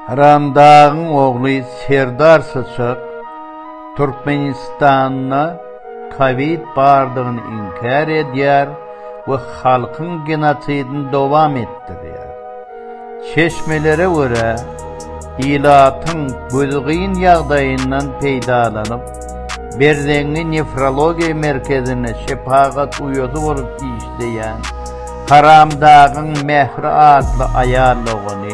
Haramdagyň ogly Serdar Syçak Türkmenistanda kowid bardygyny inkär edýär we halkyň genosidini dowam etdirýär. Çeşmelere görä, ilatyň gözi gyn ýagdaýyndan peýdalanyp, Berzeňňi nefrologiýa merkezinde şepagat uýasy bolup işleýän Haramdagyň Mähri atly aýal dogany,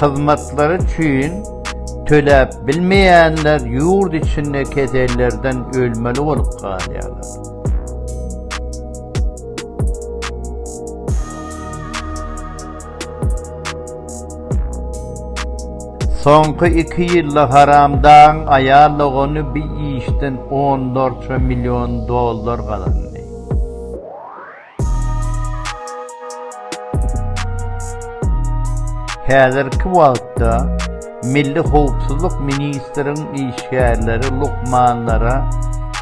Hyzmatlary üçin töläp bilmeýänler ýurt içinde kesellerden ölmeli bolup galýarlar. Soňky iki ýylda haramdagyň aýal dogany bir işden onlarça million dollar gazandy. Häzirki wagtda Milli howpsuzlyk ministriň işgärleri lukmanlara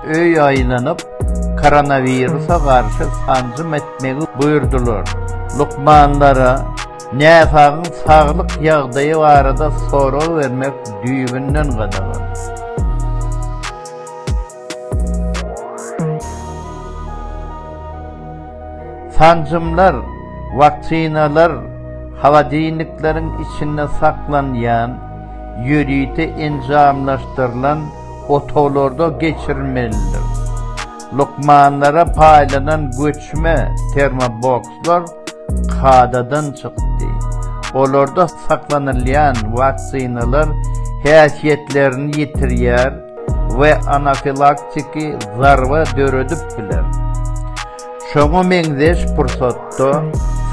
öý aýlanyp, koronawirusa garşy sanjym etmegi buýurdylar. Lukmanlara näsagyň saglyk ýagdaýy barada sorag bermek düýbünden gadagan. Sanjymlar, waksinalar, holodilnikleriň içinde saklanýan, ýörite enjamlaşdyrylan otaglarda geçirilmelidir. Lukmanlara paýlanan göçme termobokslar kadadan çykdy. Olarda saklanylýan waksinalar häsiýetlerini ýitirýär, we anafilaktiki zarba döredip biler. Şoňa meňzeş pursatda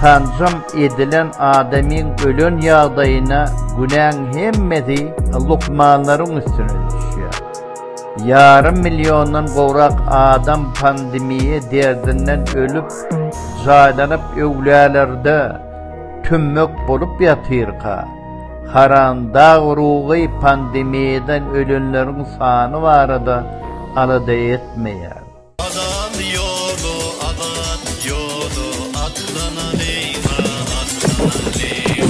sanjym edilen adamyň ölen ýagdaýyna günäň hemmesi lukmanlaryň üstüne düşýär. Ýarym milliondan gowrak adam pandemiýa derdinden ölüp, jaýlanyp öwlälerde tümmek bolup ýatyrka, Haram dag urugy pandemiýadan ölenleriň sany barada alada etmeýär. Azat ýoly, azat ýoly, atlanalyň-a, atlanalyň!